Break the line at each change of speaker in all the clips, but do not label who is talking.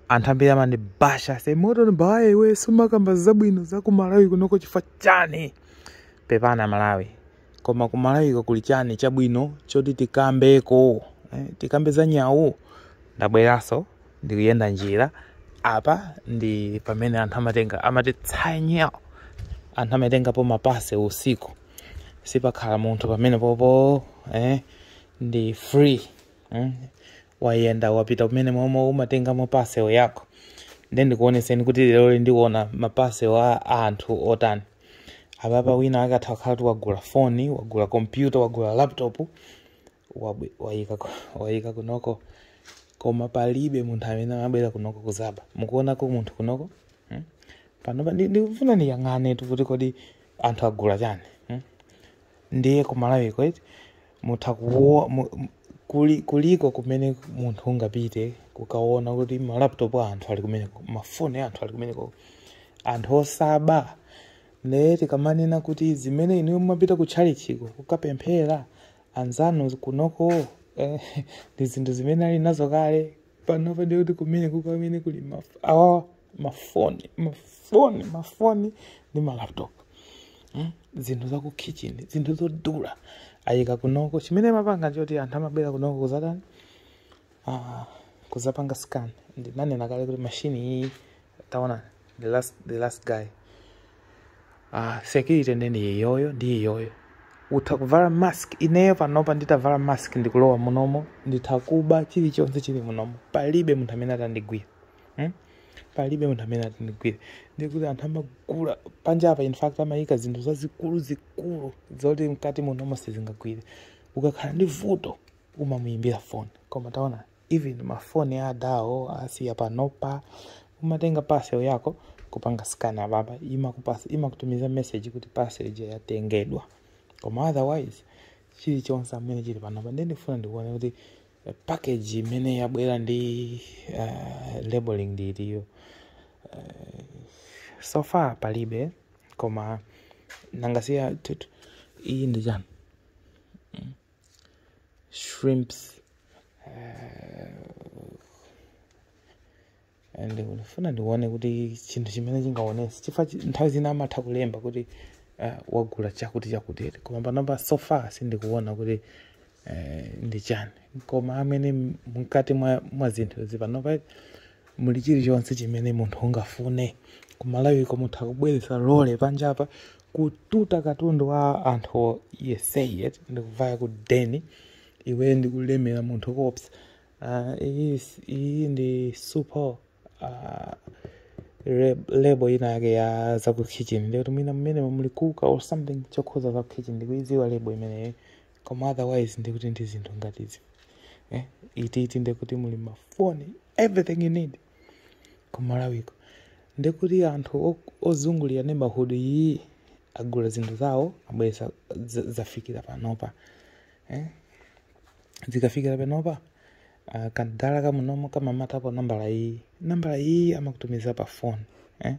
anthu ambiri amandibasha se moto mbawaye iwe sumakamba zabwino za ku malawi kunoko chifukwa chani pepani aMalawi koma ku malawiko kuli chani chabwino choti tikambeko eh, tikambe za nyawu ndabweranso ndikuyenda njira apa ndi pamene anthu amatenga amati tsanya anthu amatengapo mapase usiku sipakhala munthu pamene popo eh, ndi free mm? wayenda wapita kumene momwe umatengamo parcel yako nde ndikuoneseni kuti lero ndikuona maparcel a a anthu otani apapa wina atha kukhala kuti wagula foni wagula kompyuta wagula laptop wabwe- wayika ku- wayika kunoko koma palibe munthu amene amabwera kunoko kuzaba mukuonako munthu kunoko mm? panopa ndi- ndikufuna ndiyang'ane tu kuti kodi anthu agula chani mm? ndiye kumalawiko iti Mutha kuwo, mu, kuli, kuliko kumene munthu ungapite kukaona kuti ma laptop a anthu ali kumeneko, mafoni a anthu ali kumeneko, anthu osaba. Ndiye tikamanena kuti zimene inuyo mumapita ku tchalitchiko kukapemphera, anzanu kunoko eh, ndi zinthu zimene ali nazo kale panopa ndi kuti kumene kukamene kuli maf- awawa mafoni mafoni mafoni ndi malaptop Mm, zinthu za ku kitchen zinthu zodula ayika kunoko chimene amapanga choti anthu amabwera kunoko kuzatani Ah, kuzapanga scan ndinanena kale kuti mashini iyi taona the last, the last guy ah, security nde ndi iyoyo ndi iyoyo utha kuvala mask ineyo panopa nditavala mask ndikulowa munomo nditha kuba chilichonse chili munomo palibe munthu amene atandigwire hmm? palibe munthu amene atandigwire ndikuti anthu amagula panja apa in fact amayika zinthu zazikulu zikulu zoti mkati munomo sizingagwire ukakhala ndi vuto umamuyimbira foni koma taona even mafoni adawo asiya panopa umatenga parcel yako kupanga scan ababa imakupasa imakutumiza message kuti parcel ija yatengedwa koma otherwise chilichonse chimene chili panopa ndiye ndifuna ndikuone kuti eh, package imene yabwera ndi uh, labeling ndi iyo so far palibe koma nangasiya tutu iyi ndi chani shrimps and ndikufuna ndione kuti chinthu chimene chingaonetse chifukwa chi- nthawi zina amatha kulemba kuti uh, wagula chakuti chakuti koma panopa so far sindikuona kuti eh, ndi chani koma amene m- mkati mwa, mwa zinthu izi panopa muli chilichonse chimene munthu ungafune kumalawiko mutha kubweretsa lore panjapa kututa katundu wa anthu yesese ndikuvaya ku deni iwe ndikulemera munthu koopsa uh, iyi, iyi ndi super uh, re- label ina yake ya za ku kitchen ndikuti mwina mmenemu muli kuka or something chokhuza za ku kitchen ndikuidziwa label imeneyo koma otherwise ndikuti ndi zinthu ngati izi eh? iti iti ndikuti muli mafoni everything you need kumalawiko ndekuti anthu ozungulira neighborhood iyi agula zinthu zawo abweretsa zafikira panopa eh? zikafikira panopa uh, kandala kamunomo kamamatapo nambala iyi nambala iyi amakutumiza pa phone eh?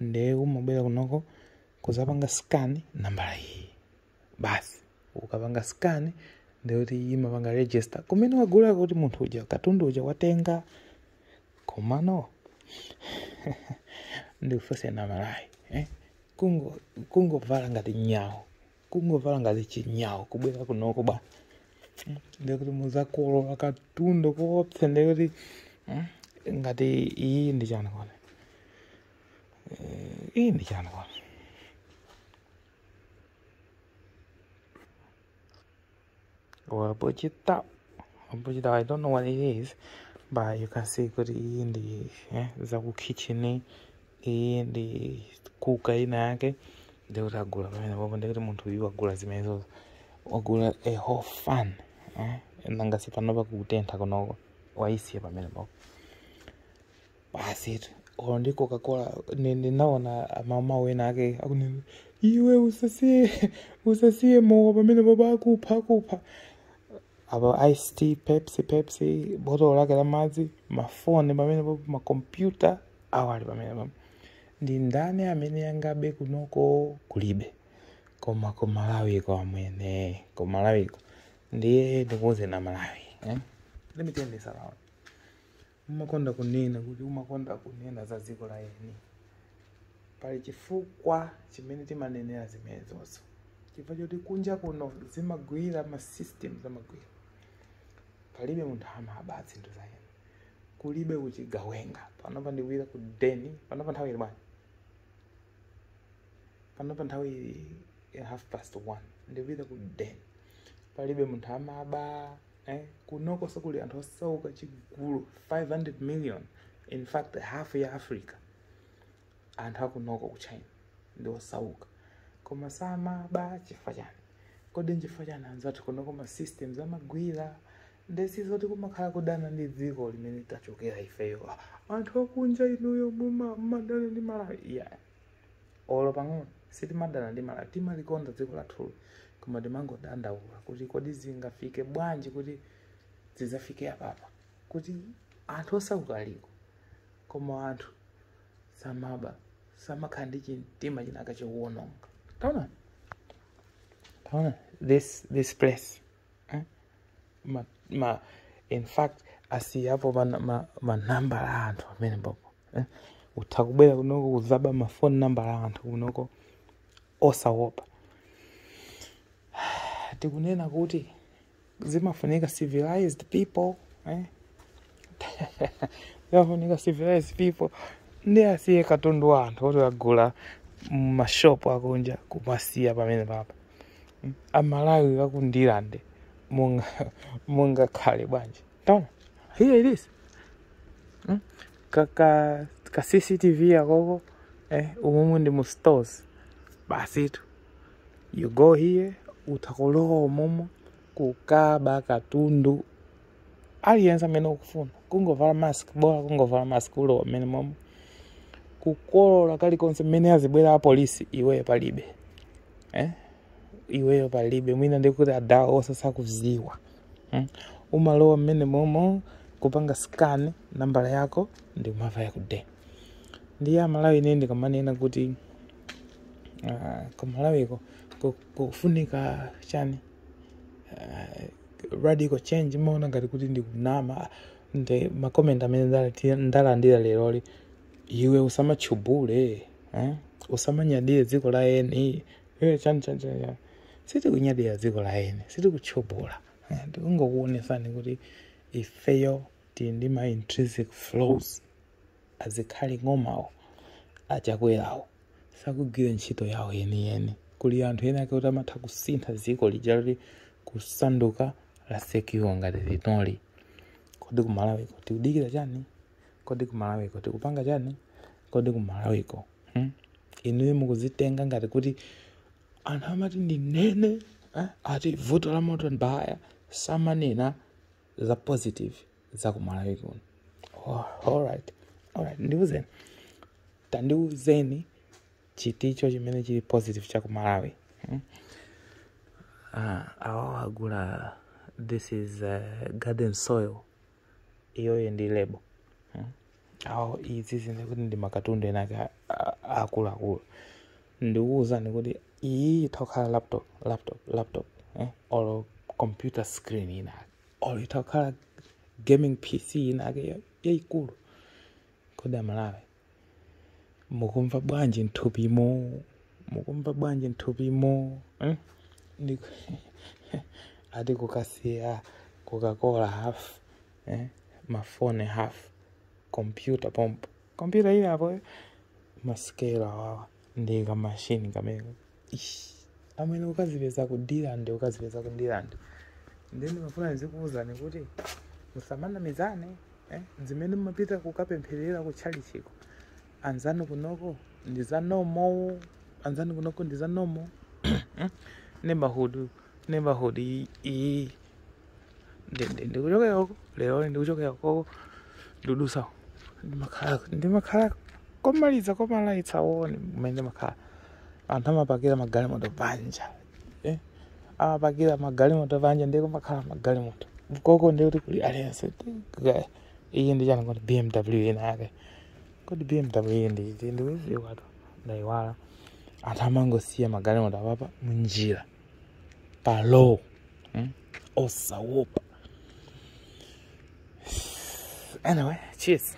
nde umabwera kunoko kuzapanga scan nambala iyi basi ukapanga scan ndekuti imapanga register kumene wagulako kuti munthu uja katundu uja watenga komano ndikufunseni amalawi eh? kungo kungovala ngati nyau kungovala ngati chinyau kubwera kunoko ba Mm, ndekuti muzakolola katundu koopsa ndekuti mm, ngati iyi ndi chani kodi iyi ndi chani kodi or a budget top a budget top. I don't know what it is but you can see kuti iyi ndi eh, zakukitchen iyi ndi kuka ina yake ndikuti agula pamenepapo ndikuti munthu uyu wagula zimenezo wagula a whole fan eh, nanga si panopa kutentha kunoko waisiya pamenepapo basi tu olo ndi coca-cola ni- ndinaona amama ena ake akunena iwe usasiye usasiye mowa pamenepapa akupha akupha apa ice tea pepsi pepsi botolo lake la madzi mafoni pamenepapa makompyuta awa ali pamenepapa ndi ndani amene angabe kunoko kulibe koma kumalawiko amwene kumalawiko ndiye ndikuuzeni amalawi eh? let me turn this around umakonda kunena kuti umakonda kunena za dziko la eni pali chifukwa chimene timanenera zimenezozo chifukwa choti kunja kuno zimagwira ma systems amagwira palibe munthu amaba zinthu za eni kulibe uchigawenga panopa ndikuvaya ku deni panopa nthawi ili bwanji panopa nthawi ili ya half past one ndikuvaya ku deni palibe munthu amaba eh, kunoko sikuti kulibe anthu osauka chigulu 500 million in fact half ya africa anthu akunoko ku china ndi osauka koma samaba chifukwa chani kodi nchifukwa chani anzathu kunoko ma systems amagwira ndesizoti kumakhala kudana ndi dziko limene tachokera ifeyo anthu akunja inuyo muma- mumadana ndi malawi yeah. olo pang'ono sitimadana ndi malawi timalikonda dziko lathuli koma timangodandaula kuti kodi zingafike bwanji kuti zidzafike apapa kuti anthu osauka aliko koma anthu samaba samakhala ndi chimtima chinachake chowononga taona taona this this place ma, ma in fact asiyapo manambala ma, ma, ma a anthu pamenepo eh? utha kubwera kunoko kuzaba mafoni nambala a anthu kunoko osawopa tikunena kuti zimafunika civilized people eh? zimafunika civilized people ndi asiye katundu wa anthu oti agula mmashopu akunja kumasiya pamenepapa amalawi aku Ndirande mungakhale bwanji taona here it is Mm. ka, ka, ka cctv yakoko eh, umumu ndi mu stores basitu you go here utakulowa umumu kukaba katundu aliyense amene ukufuna kungovala mask bola kungovala mask ulowa mmenemomo kukolola kalikonse mmene azibwera apolisi iweyo palibe eh? iweyo palibe mwina ndikuti adawo onse sakuziwa mm? umalowa mmenemomo kupanga scan nambala yako ndi kumava yakude ndiye amalawi ine ndikamanena kuti uh, kumalawiko ku- kufunika chani uh, radical change maona ngati kuti ndikunama nde ma comment amene ndalati- ndalandira leroli iwe usamachubule eh? usamanyadire dziko la eni Eh, chani chani chani chani. sitikunyadira dziko la eni sitikuchubula eh? tikungokuonesani kuti ifeyo tili ndi ma intrinsic flaws asilikali ng'omawo achakwerawo sakugwira ntchito yawo yeniyeni kuli anthu enaake kuti amatha kusintha dziko lija loti kusanduka la secure ngati linoli kodi kumalawiko tikudikira chani kodi kumalawiko tikupanga chani kodi kumalawiko hmm? inuyo mukuzitenga ngati kuti anthu amati ndinene eh? ati vuto la moto mbaya samanena za positive za ku malawi kuno oh, alright alright ndiuzeni tandiuzeni chinthucho chimene chili positive cha ku malawi hmm? ah, awawo agula this is uh, garden soil iyoyo ndi lebo hmm? awo zizindikire kuti ndi makatundu ena ake a- a- aakuluakulu ndikuwuzeni kuti iyi itha kukhala laptop laptop laptop eh? or computer screen ina ake or itha kukhala gaming pc ina ake ya- yayikulu kodi amalawi mukumva bwanji mthupimo mukumva bwanji mthupimo eh? Ndi- ati kukasiya coca-cola half eh? mafoni half kompyuta pompo kompyuta ili apo masikelu awawa ndi kamashini kamene Ish, amwene ukazipeza ku dirande ukazipeza ku dirande ndiye ndimafuna ndizikuwuzani kuti musamanamizane eh? zimene mumapita kukapempherera ku tchalichiko anzanu kunoko ndi za normal anzanu kunoko ndi za normal neighborhood neighborhood iyi ndikuchokera koko lero ndikuchokera koko ndudutsa ndimakhala ndimakhala komaliza komalaitsa one mmene amakhala anthu amapakira magalimoto panja eh? amapakira magalimoto panja ndiye kumakhala magalimoto koko ndikuti kuli aliyense iyi ndi chani kuti bmw inake kodi bmw iyi ndi iti ndikudziwatu ndayiwala anthu amangosiya magalimoto apapa munjira pa road mm? osawopa anyway cheers